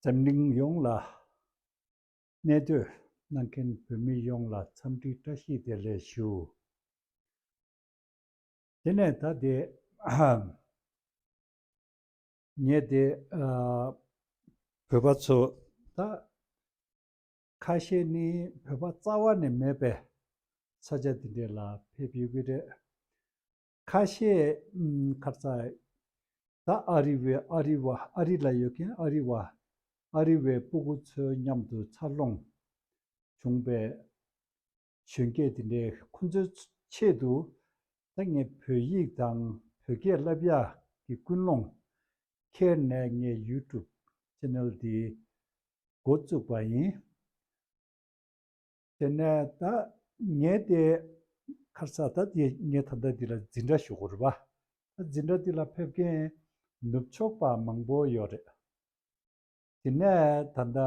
འཛམ་གླིང་ཡོངས་ལ་གནས་སྡོད་གནང་མཁན་བོད་མི་ཡོངས་ལ་འཚམས་འདྲི་བཀྲ་ཤིས་བདེ་ལེགས་ཞུ། དེ་ནས་ད་དེ་ངས་དེ་བོད་པ་ཚོ་ད། ཁ་ཤས་ནི་བོད་པ་རྩ་བ་ནས་མེད་པས་ས་ཆ་འདི་འདྲ་ལ་ཕེབས་ཡོད་ཀྱི་རེད། ཁ་ཤས་ཁར་རྩ་ད་ཨ་རི་བས་ཨ་རི་བ་ཨ་རི་ལ་ཡོད་མཁན་ཨ་རི་བ་ཨ་རི་བའི་སྤུ་གུ་ཚོའི་མཉམ་དུ་འཚར་ལོངས་བྱུང་པས། གཞོན་སྐྱེས་དེ་འདྲས་ཁོ་ཚོའི་ཆེད་དུ། ད་ངས་བོད་ཡིག་དང་བོད་སྐད་བསླབ་ཡག་གི་ཀུན་སློང། ཁྱེར་ནས་ངས YouTube Channel འདི་འགོ་བཙུགས་པ་ཡིན། དེ་ནས་ད་ངས་དེ་ཁར་ས་ད་དེ་ངས་ད་ལྟ་འདི་ལ་འཛིན་གྲྭ་ཞུ་དགོས་རེད་པ། ད་འཛིན་གྲྭ་འདི་ལ་ཕེབས་མཁན་ནུབ་ཕྱོགས་པ་མང་པོ་ཡོད་རེད། དེ་ནས་ད་ད།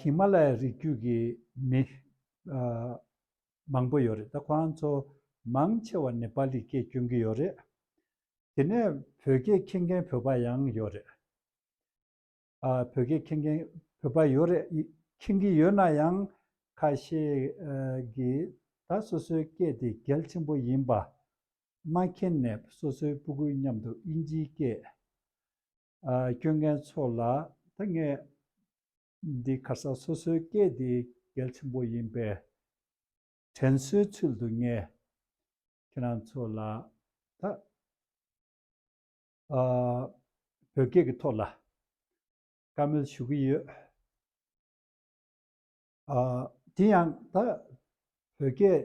ཧི་མ་ལ་ཡའི་རི་རྒྱུད་ཀྱི་མི། མང་པོ་ཡོད་རེད་ད་ཁོ་རང་ཚོ་མང་ཆེ་བ་ནི་པཱ་ལི་སྐད་སྐྱོན་གྱི་ཡོད་རེད། དེ་ནས་བོད་སྐད་མཁྱེན་མཁན་བོད་པ་ཡང་ཡོད་རེད། བོད་སྐད་མཁྱེན་མཁན་བོད་པ་ཡོད་རེད་མཁྱེན་གྱི་ཡོད་ན་ཡང་ཁ་ཤས་ཀྱིས་ད་སོ་སོའི་སྐད་དེ་གལ་ཆེན་པོ་ཡིན་པ། མ་མཁྱེན་ནས་སོ་སོའི་སྤུ་གུའི་མཉམ་དུ་དབྱིན་ཇིའི་སྐད། སྐྱོན་མཁན་ཚོ་ལ་ཐུག་ངེས། འདི་ག་ས་སོ་སོའི་སྐད་དེ་གལ་ཆེན་པོ་ཡིན་པས་དྲན་གསོའི་ཚུལ་དུ་ངས་ཁྱེད་རང་ཚོ་ལ་ད་བོད་སྐད་ཀྱི་ཐོག་ལ་བཀའ་མོལ་ཞུ་གི་ཡོད། དེ་ཡང་ད་བོད་རྒྱལ་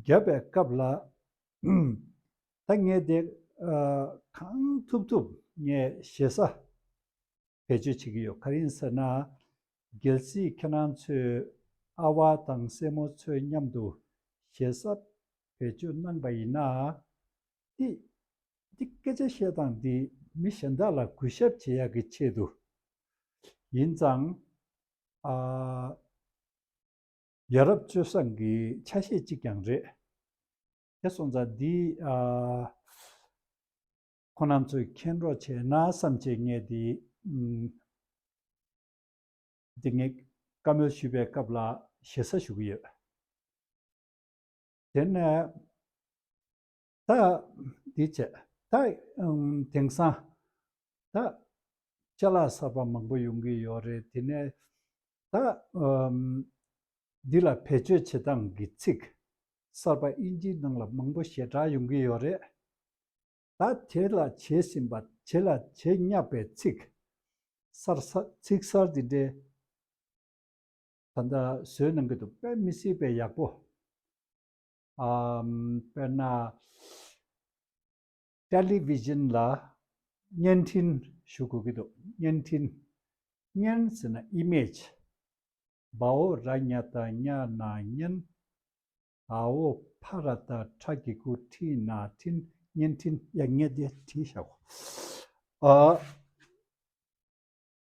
བརྒྱབ་པའི་སྐབས་ལ། ད་ངས་དེ་གང་ཐུབ་ཐུབ་ངས་ཞེ་ས་བེད་སྤྱོད་བྱེད་ཀྱི་ཡོད་ག་རེ་ཡིན་ཟེར་ན། རྒྱལ་སྲིད་ཁྱེད་རང་ཚོས་ཨ་བ་དང་སྲས་མོ་ཚོའི་མཉམ་དུ་ཞེ་ས་བེད་སྤྱོད་གནང་པ་ཡིན་ན། འདི་འདི་སྐད་ཆ་བཤད་སྟངས་འདི་མི་གཞན་དག་ལ་གུས་ཞབས་བྱེད་ཡག་གི་ཆེད་དུ་ཡིན་ཙང། ཡ་རབས་སྤྱོད་བཟང་གི་ཆ་ཤས་གཅིག་ཀྱང་རེད། དེ་སོང་ཙང་འདི་ཁོ་རྣམས་ཚོས་མཁྱེན་རོགས་བྱས་ན་བསམ་བྱས་ངས་དེ་དེ་ངས་བཀའ་མོལ་ཞུས་པའི་སྐབས་ལ་ཞེ་ས་ཞུ་གི་ཡོད། དེ་ནས་ད་འདི་བྱས། ད་དེང་སང་ད་ཅལ་ལག་གསར་པ་མང་པོ་ཡོང་གི་ཡོད་རེད་དེ་ནས་ད་འདི་ལ་བེད་སྤྱོད་བྱེད་སྟངས་ཀྱི་ཚིག་གསར་པ་དབྱིན་ཇིའི་ནང་ལ་མང་པོ་ཞེ་དྲག་ཡོང་གི་ཡོད་རེད། ད་བྱས་ལ་བྱས་ཟིན་པ་བྱས་ལ་བྱས་བསྙགས་པའི་ཚིག་གསར་ཚིག་གསར་འདི་འདྲའི་ད་ལྟ་བཟོས་གནང་གི་འདུག་དཔེ་མི་སྲིད་པའི་ཡག་པོ། དཔེར་ན། Television ལ་བརྙན་འཕྲིན་ཞུ་དགོས་ཀྱི་འདུག་བརྙན་འཕྲིན། བརྙན་ཟེར་ན Image། བའོ་ར་ཉ་ད་ཉ་ན་བརྙན། ཨའོ་བྷ་ར་ད་ཁྲ་གི་ཀུ་ཁྲི་ན་འཕྲིན་བརྙན་འཕྲིན། ཡ་ངས་འདི་བྲིས་ཤག་གོ།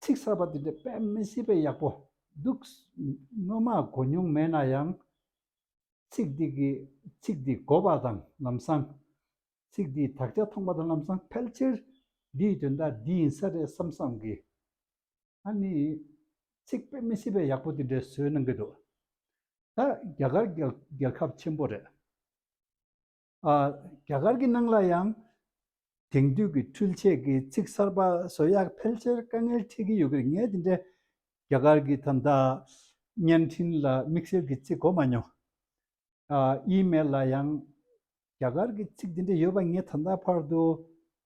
ཚིག་གསར་པ་འདི་འདྲ་དཔེ་མི་སྲིད་པས་ཡག་པོ་འདུག་སྔོན་མ་གོ་མྱོང་མེད་ན་ཡང། ཚིག་འདི་གིས་ཚིག་འདི་གོ་བ་དང་ལམ་སང། ཚིག་འདིས་དག་ཆ་མཐོང་བ་དང་ལམ་སང་ཕལ་ཆེར་འདིའི་དོན་དག་འདི་ཡིན་ས་རེད་བསམ་བསམ་གི། ད་ནི་ཚིག་དཔེ་མི་སྲིད་པས་ཡག་པོ་འདི་འདྲའི་བཟོས་གནང་གི་འདུག་ད་རྒྱ་གར་རྒྱལ་ཁབ་ཆེན་པོ་རེད། རྒྱ་གར་གྱི་ནང་ལ་ཡང་དེང་དུས་ཀྱི་འཕྲུལ་ཆས་ཀྱི་ཚིག་གསར་པ་བཟོ་ཡག་ཕལ་ཆེར་དཀའ་ངལ་འཕྲད་ཀྱི་ཡོད་གི་རེད་ངས་དེ་འདྲའི་རྒྱ་གར་གྱི་ཐ་མདའ་བརྙན་འཕྲིན་ལ་དམིགས་བསལ་གྱི་ཚིག་གོ་མ་མྱོང། ཨི་མེལ་ལ་ཡང་རྒྱ་གར་གྱི་ཚིག་དེ་འདྲ་ཡོད་པ་ངས་ད་ལྟ་བར་དུ་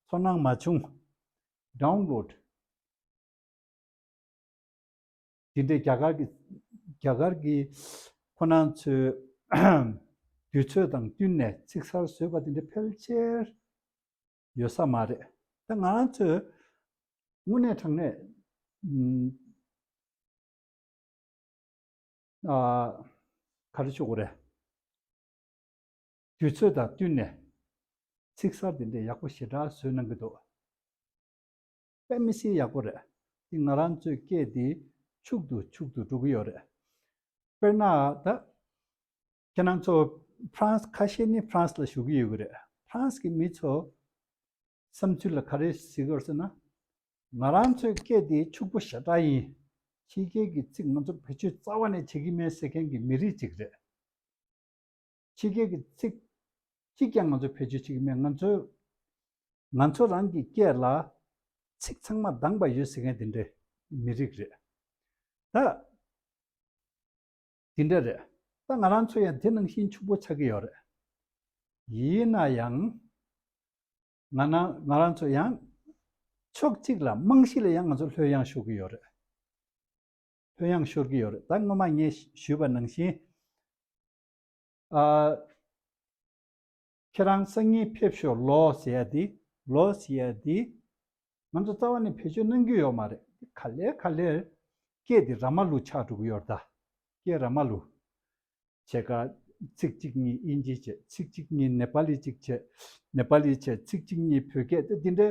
ཚོར་སྣང་མ་བྱུང། Download། དེ་འདྲའི་རྒྱ་གར་གྱི་རྒྱ་གར་གྱི་ཁོ་ན་ཚོའི་དུས་ཚོད་དང་བསྟུན་ནས་ཚིག་གསར་བཟོས་པ་དེ་འདྲ་ཕལ་ཆེར་ཡོད་ས་མ་རེད། ད་ང་རང་ཚོས་དངོས་གནས་དྲང་གནས་ག་རེ་ཤོད་དགོས་རེད། དུས་ཚོད་དང་བསྟུན་ནས་ཚིག་གསར་དེ་འདྲ་ཡག་པོ་ཞེ་དྲག་བཟོས་གནང་གི་འདུག་པད་མི་སིའི་ཡག་པོ་རེད་འདི་ང་རང་ཚོའི་སྐད་འདི་ཕྱུག་ཏུ་ཕྱུག་ཏུ་འགྲོ་གི་ཡོད་རེད་དཔེར་ན་ད་ཁྱེད་རང་ཚོ France ཁ་ཤས་ནི France ལ་བཞུགས་གི་ཡོད་གི་རེད France གི་མི་ཚོ་བསམ་ཚུལ་ལ་ག་རེ་གཟིགས་དགོས་ཟེར་ན། ང་རང་ཚོའི་སྐད་འདི་ཕྱུག་པོ་ཞེ་དྲག་ཡིན། ཕྱི་རྒྱལ་གྱི་ཚིག་ང་ཚོ་བེད་སྤྱོད་རྩ་བ་ནས་བྱེད་ཀྱི་མེད་ཟེར་མཁན་གྱི་མི་རིགས་ཅིག་རེད། ཕྱི་རྒྱལ་གྱི་ཚིག། གཅིག་ཀྱང་ང་ཚོའི་བེད་སྤྱོད་བྱེད་ཀྱི་མེད་ང་ཚོས། ང་ཚོ་རང་གི་སྐད་ལ། ཚིག་ཚང་མ་འདང་པ་ཡོད་ཟེར་མཁན་དེ་འདྲའི་མི་རིགས་རེད། ད། དེ་འདྲ་རེད། ད་ང་རང་ཚོ་ཡང་དེ་ནང་བཞིན་ཕྱུག་པོ་ཆགས་ཀྱི་ཡོད་རེད། ཡིན་ན་ཡང། ང་ནང་ང་རང་ཚོ་ཡང། ཕྱོགས་གཅིག་ལ་རྨང་གཞི་ལ་ཡང་ང་ཚོ་ལྷོད་གཡེང་ཤོར་གྱི་ཡོད་རེད། ལྷོད་གཡེང་ཤོར་གྱི་ཡོད་རེད་ད་སྔོན་མ་ངས་ཞུས་པ་ནང་བཞིན། ཨ། ཁྱེད་རང་སང་ཉིན་ཕེབས་ཤོག་ལོས་ཡ་དེ་ལོས་ཡ་དེ། ང་ཚོ་རྩ་བ་ནས་བེད་སྤྱོད་གནང་རྒྱུ་ཡོད་མ་རེད། འདི་ག་ལེར་ག་ལེར། སྐད་འདི་ར་མ་ལུག་ཆགས་འགྲོ་གི་ཡོད་རད། སྐད་ར་མ་ལུག། བྱེད་ཀ། ཚིག་གཅིག་གཉིས་དབྱིན་ཇི་བྱས་ཚིག་གཅིག་གཉིས་ནེ་པ་ལི་གཅིག་བྱས། ནེ་པ་ལི་བྱས་ཚིག་གཅིག་གཉིས་བོད་སྐད་དེ་འདི་འདྲའི།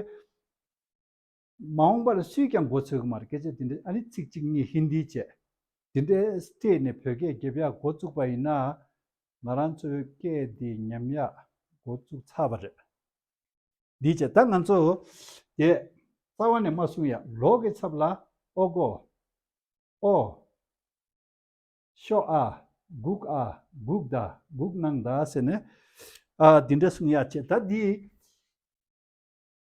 མ་འོངས་པར་སུས་ཀྱང་མགོ་ཚོས་གི་མ་རེད་སྐད་ཆ་དེ་འདྲ་ཨ་རི་ཚིག་གཅིག་གཉིས་ཧིན་དིའི་བྱས། དེ་འདྲའི་སྤྲེལ་ནས་བོད་སྐད་རྒྱབ་ཡག་མགོ་བཙུགས་པ་ཡིན་ན། ང་རང་ཚོའི་སྐད་འདི་ཉམས་ཡག་མགོ་བཙུགས་ཚར་བ་རེད། འདིའི་ཆེད་ད་ང་ཚོ་དེ་རྩ་བ་ནས་མ་གསུང་ཡག་ལོག་གི་ཚབ་ལ་ཨོ་གོ། ཨོ། ཤོག་ཨ། སྒུག་ཨ། སྒུག་ད། སྒུག་གནང་ད་ཟེར་ནས། འདི་འདྲ་གསུང་ཡག་ཆེད་ད་འདི།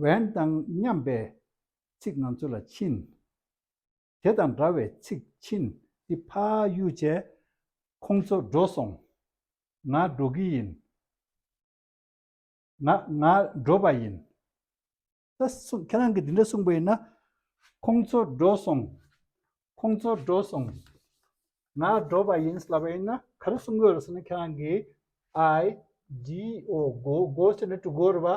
བན་དང་མཉམ་པའི་ཚིག་ང་ཚོ་ལ་ཕྱིན། དེ་དང་འདྲ་བའི་ཚིག་ཕྱིན་ཏེ་ཕ་ཡུལ་བྱས། ཁོང་ཚོ་འགྲོ་སོང། ང་འགྲོ་གི་ཡིན། ང་ང་འགྲོ་བ་ཡིན། ད་སོང་ཁྱེད་རང་གིས་འདི་འདྲ་གསུངས་པ་ཡིན་ན། ཁོང་ཚོ་འགྲོ་སོང། ཁོང་ཚོ་འགྲོ་སོང། ང་འགྲོ་བ་ཡིན་ཟེར་བ་ཡིན་ན་ག་རེ་གསུང་དགོས་རེད་ཟེར་ན་ཁྱེད་རང་གིས I G O དགོ་དགོ་ཟེར་ན་དྲུག་དགོ་རེད་བ།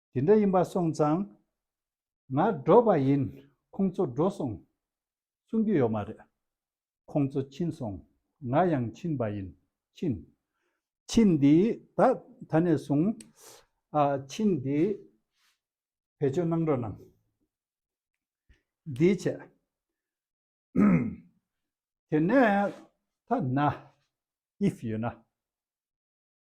དེ་འདྲ་ཡིན་པར་སོང་ཙང། ང་འགྲོ་བ་ཡིན་ཁོང་ཚོ་འགྲོ་སོང་གསུང་རྒྱུ་ཡོད་མ་རེད། ཁོང་ཚོ་ཕྱིན་སོང་ང་ཡང་ཕྱིན་པ་ཡིན་ཕྱིན། ཕྱིན་དེ་ད་ད་ནས་བཟུང། ཕྱིན་དེ་བེད་སྤྱོད་གནང་རོགས་གནང། འདིའི་ཆེད། དེ་ནས་ཐ་ན if ཡོད་ན།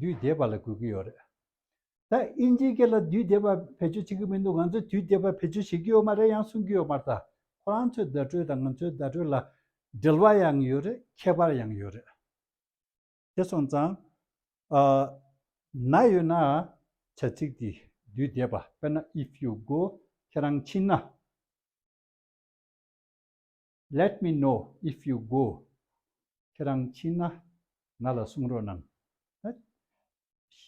དུས་བདེ་བ་ལ་དགོས་ཀྱི་ཡོད་རེད། ད་དབྱིན་ཇིའི་སྐད་ལ་དུས་བདེ་བ་བེད་སྤྱོད་བྱེད་ཀྱི་མི་འདུག་ང་ཚོས་དུས་བདེ་བ་བེད་སྤྱོད་བྱེད་ཀྱི་ཡོད་མ་རེད་ཡང་གསུང་གི་ཡོད་མ་རེད་ད་ཁོ་རང་ཚོའི་བརྡ་སྤྲོད་དང་ང་ཚོའི་བརྡ་སྤྲོད་ལ་འབྲེལ་བ་ཡང་ཡོད་རེད་ཁྱད་པར་ཡང་ཡོད་རེད། དེ་སོང་ཙང་ཨ་ན་ཡོད་ན་བྱ་ཚིག་དེ་དུས་བདེ་བ་དཔེར་ན if you go ཁྱེད་རང་ཕྱིན་ན། Let me know if you go ཁྱེད་རང་ཕྱིན་ན་ང་ལ་གསུང་རོགས་གནང།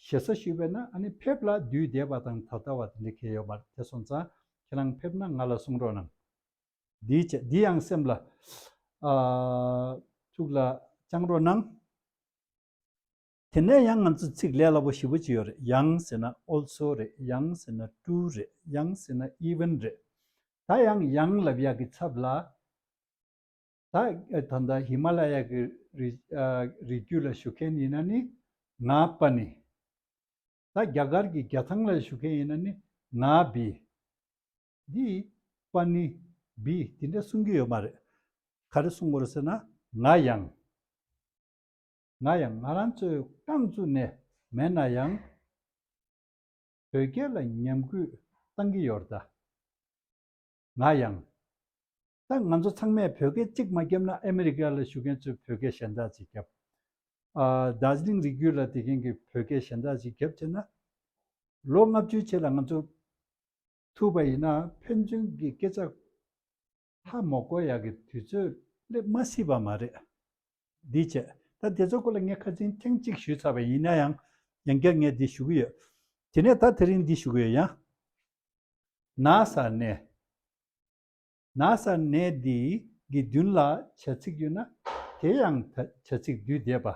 ཞེ་ས་ཞུས་པས་ན་ཕེབས་ལ་དུས་འདས་པ་དང་ད་ལྟ་བ་དེ་འདྲ་ཁེལ་ཡོད་མ་རེད་དེ་སོང་ཙང་ཁྱེད་རང་ཕེབས་ན་ང་ལ་གསུང་རོགས་གནང། འདིའི་ཆེད་འདི་ཡང་སེམས་ལ་ཐུགས་ལ་བཅངས་རོགས་གནང། དེ་ནས་ཡང་ང་ཚོས་ཚིག་ལས་སླ་པོ་བཞི་བོ་ཅི་ཡོད་རེད་ཡང་ཟེར་ན also རེད་ཡང་ཟེར་ན too རེད་ཡང་ཟེར་ན even རེད། ད་ཡང་ཡང་ལབ་ཡག་གི་ཚབ་ལ། ད་ད་ལྟ་ཧི་མ་ལ་ཡ་གི་རི་རྒྱུད་ལ་བཞུགས་མཁན་ཡིན་ན་ནི་ང་པ་ནི། ད་རྒྱ་གར་གྱི་རྒྱ་ཐང་ལ་བཞུགས་མཁན་ཡིན་ན་ནི་ང་བི། འདི་པ་ནི་བི་དེ་འདྲ་གསུང་གི་ཡོད་མ་རེད། ག་རེ་གསུང་དགོས་རེད་ཟེར་ན་ང་ཡང། ང་ཡང་ང་རང་ཚོའི་རྐང་བཙུགས་ནས་མེད་ན་ཡང། དོལ་རྒྱལ་ལ་ཉམས་རྒུད་གཏང་གི་ཡོད་རྩ། ང་ཡང། ད་ང་ཚོ་ཚང་མས་བོད་སྐད་གཅིག་མ་རྒྱབ་ན་ཨ་མི་རི་ཀ་ལ་བཞུགས་མཁན་ཚོས་བོད་སྐད་གཞན་དག་ཅིག་རྒྱབ། རྡ་ཟི་ལིང་རིགས་རྒྱུད་ལ་དེ་མཁན་གྱི་བོད་སྐད་གཞན་དག་ཅིག་རྒྱབ་བྱས་ན། ལོ་ལྔ་བཅུའི་ཆེད་ལ་ང་ཚོ། ཐུབ་པ་ཡིན་ན་ཕན་ཚུན་གྱི་སྐད་ཆ། ལྷ་མོ་བསྐོ་ཡག་གི་དུས་ཚོད་སླེབས་མ་སྲིད་པ་མ་རེད། འདིའི་ཆེད་ད་དེ་ཚོའི་སྐོར་ལ་ངས་ཁ་ཚིག་ཐེངས་གཅིག་ཞུས་ཚར་བ་ཡིན་ན་ཡང་ཡང་བསྐྱར་ངས་འདི་ཞུ་གི་ཡོད། དེ་ནས་ད་དེ་རིང་འདི་ཞུ་གི་ཡོད་ཡང། ན་བཟའ་གནས། ན་བཟའ་གནས་འདི་གི་མདུན་ལ་བྱ་ཚིག་ཡོད་ན་དེ་ཡང་བྱ་ཚིག་བསྡུས་བསྡད་པ།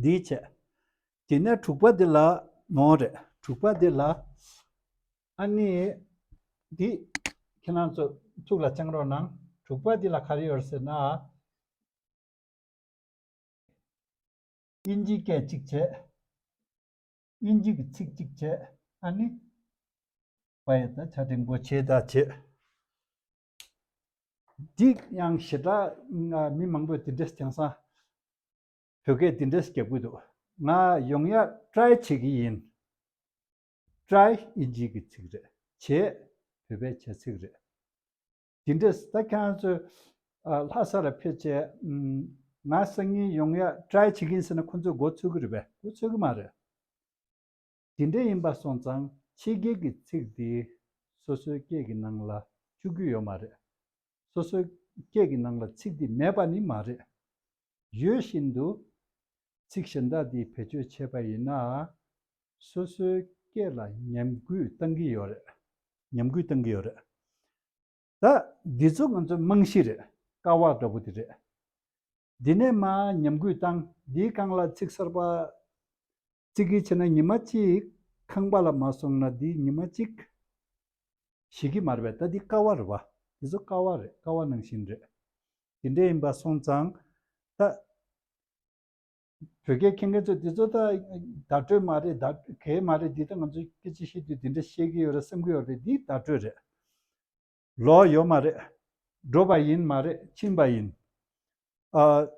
འདིའི་ཆེད། དེ་ནས་དྲུག་པ་འདི་ལ་ནོ་རེད། དྲུག་པ་འདི་ལ། ཨ་ནི། འདི། ཁྱེད་རང་ཚོ་ཐུགས་ལ་བཅངས་རོགས་གནང། དྲུག་པ་འདི་ལ་ག་རེ་ཡོད་ཟེར་ན། ཨིན་ཇི་སྐད་གཅིག་བྱས། ཨིན་ཇི་གི་ཚིག་གཅིག་བྱས། ཨ་ནི། བ་ཡི་ད་ཆ་རིན་པོ་ཆེའི་ད་བྱས། འདི་ཡང་ཞེ་དྲགས། མི་མང་པོས་དེ་འདྲས་བྱང་སང། བོད་སྐད་འདི་འདྲས་རྒྱབ་གི་འདུག་ང་ཡོང་ཡག try བྱེད་ཀྱི་ཡིན། try དབྱིན་ཇིའི་གི་ཚིག་རེད་བྱེད་བོད་པའི་བྱ་ཚིག་རེད། འདི་འདྲས་ད་ཁྱེད་རང་ཚོས་ལྷ་ས་ལ་ཕེབས་རྗེས་ང་སང་ཉིན་ཡོང་ཡག try བྱེད་ཀྱི་ཡིན་ཟེར་ན་ཁོང་ཚོས་མགོ་ཚོས་ཀྱི་རེད་པས་མགོ་ཚོས་ཀྱི་མ་རེད། དེ་འདྲ་ཡིན་པ་སོང་ཙང་ཕྱི་རྒྱལ་གྱི་ཚིག་འདི་སོ་སོའི་སྐད་ཀྱི་ནང་ལ་བཅུག་རྒྱུ་ཡོད་མ་རེད། སོ་སོའི་སྐད་ཀྱི་ནང་ལ་ཚིག་འདི་མེད་པ་ནི་མ་རེད། ཡོད་བཞིན་དུ་ཚིག་གཞན་དག་འདི་བེད་སྤྱོད་བྱས་པ་ཡིན་ན། སོ་སོའི་སྐད་ལ་ཉམས་རྒུད་བཏང་གི་ཡོད་རེད། ཉམས་རྒུད་བཏང་གི་ཡོད་རེད། ད་འདི་ཚོ་ང་ཚོའི་རྨང་གཞི་རེད། དཀའ་བ་འདྲ་པོ་དེ་རེད། འདི་ནས་མ་ཉམས་གུས་བཏང་འདིའི་རྐང་ལག་ཚིག་གསར་པ། གཅིག་གིས་ཕྱེ་ན་ཉི་མ་གཅིག། ཁང་པ་ལ་མ་སོང་ན་འདི་ཉི་མ་གཅིག། ཞིག་གིས་མར་བས་ད་འདི་ཀ་བ་རེད་བ། དེ་ཚོ་ཀ་བ་རེད་ཀ་བ་ནང་བཞིན་རེད། དེ་འདྲས་ཡིན་པ་སོང་ཙང། ད། བོད་སྐད་མཁྱེན་མཁན་ཚོས་དེ་ཚོ་ད། བརྡ་སྤྲོད་མ་རེད་བརྡ་གས་མ་རེད་འདི་ད་ང་ཚོས་སྐད་ཆ་བཤད་དུས་དེ་འདྲ་བཤད་ཀྱི་ཡོད་རེད་བསམ་གྱི་ཡོད་རེད་འདི་བརྡ་སྤྲོད་རེད། ལོག་ཡོད་མ་རེད། འགྲོ་བ་ཡིན་མ་རེད་ཕྱིན་པ་ཡིན། ཨ།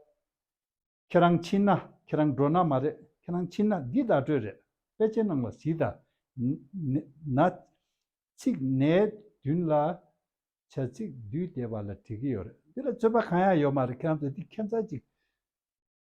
ཁྱེད་རང་ཕྱིན་ན་ཁྱེད་རང་འགྲོ་ན་མ་རེད་ཁྱེད་རང་ཕྱིན་ན་འདི་བརྡ་སྤྲོད་རེད་དཔེ་ཆའི་ནང་ལ་གཟིགས་ད། ན། ཚིག་ནའི་མདུན་ལ་བྱ་ཚིག་བསྡུས་བསྡད་པ་ལ་བྲིས་ཀྱི་ཡོད་རེད་འདི་ལ་རྩོད་པ་གང་ཡང་ཡོད་མ་རེད་ཁྱེད་རང་ཚོ་འདི་ཁྱད་མཚར་ཅིག།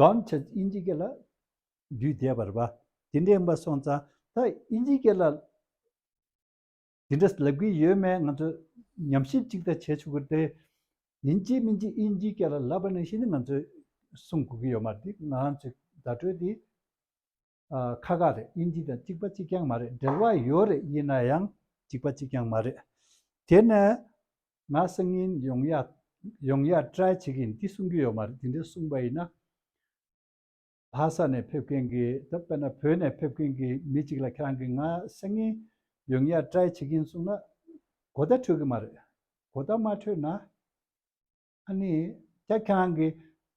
གང་ཕྱིར་དབྱིན་ཇི་སྐད་ལ་འདུས་བསྡད་པར་བ་དེ་འདྲའི་མི་སོང་ཙང་ད་དབྱིན་ཇི་སྐད་ལ་དེ་འདྲ་ལབ་གི་ཡོད་མེད་ང་ཚོས་ཉམས་ཞིབ་ཅིག་ད་བྱེད་ཆོག་གི་རེད། ཡིན་གཅིག་མིན་གཅིག་དབྱིན་ཇི་སྐད་ལ་ལབ་པ་ནི་ཤིན་ཏུ་ང་ཚོས་སྲུང་དགོས་ཀྱི་ཡོད་མ་རེད། ང་ཚོས་བརྡ་སྤྲོད་དེ། ཁ་ཁ་རེད་དབྱིན་ཇི་དང་གཅིག་པ་གཅིག་རྐྱང་མ་རེད་འབྲེལ་བ་ཡོད་རེད་དབྱིན་ན་ཡང་གཅིག་པ་གཅིག་རྐྱང་མ་རེད། དེ་ནས་ང་སང་ཉིན་ཡོང་ཡ་ཡོང་ཡ try བྱེད་ཀྱི་ཡིན་འདི་གསུང་གི་ཡོད་མ་རེད་འདི་འདྲ་གསུང་པ་ཡིན་ན། བྷ་ས་ནས་ཕེབས་མཁན་གྱི་དེ་དཔེར་ན་བོད་ནས་ཕེབས་མཁན་གྱི་མི་གཅིག་ལ་ཁྱེད་རང་གིས་ང་སང་ཉིན་ཡོང་ཡ try བྱེད་ཀྱི་ཡིན་གསུང་ན་གོ་བརྡ་འཕྲོད་ཀྱི་མ་རེད། གོ་བརྡ་མ་འཕྲོད་ན། ཨ་ནི། རྒྱ་ཁྱེད་རང་གིས་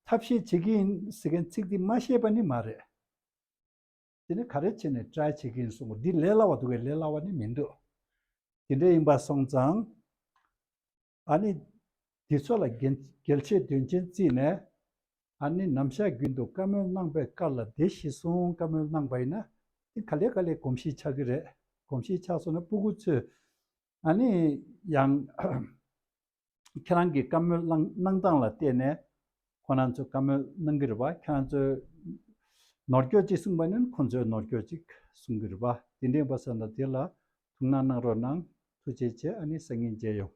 ཐབས་ཤེས་བྱེད་ཀྱི་ཡིན་ཟེར་མཁན་ཚིག་འདི་མ་བཤད་པ་ནི་མ་རེད། དེ་ནི་ག་རེ་བྱས་ནས try བྱེད་ཀྱི་ཡིན་གསུང་པ་འདི་ལས་སླ་བ་འདུག་གས་ལས་སླ་བ་ནི་མི་འདུག། དེ་འདྲ་ཡིན་པ་སོང་ཙང། ཨ་ནི། འདི་ཚོ་ལ་འགེལ་བྱེད་དོན་ཆེན་བརྩིས་ནས། ཨ་ནི་ནམ་ཞག་རྒྱུན་དུ་བཀའ་མོལ་གནང་པའི་སྐར་ལ་བདེ་གཤེགས་གསུང་བཀའ་མོལ་གནང་པ་ཡིན་ན། དེ་ག་ལེ་ག་ལེ་གོམས་གཤིས་ཆགས་ཀྱི་རེད་གོམས་གཤིས་ཆགས་སོང་ན་སྤུ་གུ་ཚོས། ཨ་ནི། ཡང། ཁྱེད་རང་གི་བཀའ་མོལ་གནང་སྟངས་ལ་བལྟས་ནས་ཁོ་ན་ཚོས་བཀའ་མོལ་གནང་གི་རེད་པ་ཁྱེད་རང་ཚོས་ནོར་སྐྱོད་ཅིག་གསུངས་པ་ནི་ཁོ་ཚོས་ནོར་སྐྱོད་ཅིག་གསུངས་གི་རེད་པ་དེ་འདྲས་པ་སོགས་ན་དེ་ལ་ཐུགས་སྣང་གནང་རོགས་གནང་ཐུགས་རྗེ་ཆེ་ཨ་ནི་སང་ཉིན་མཇལ་ཡོང།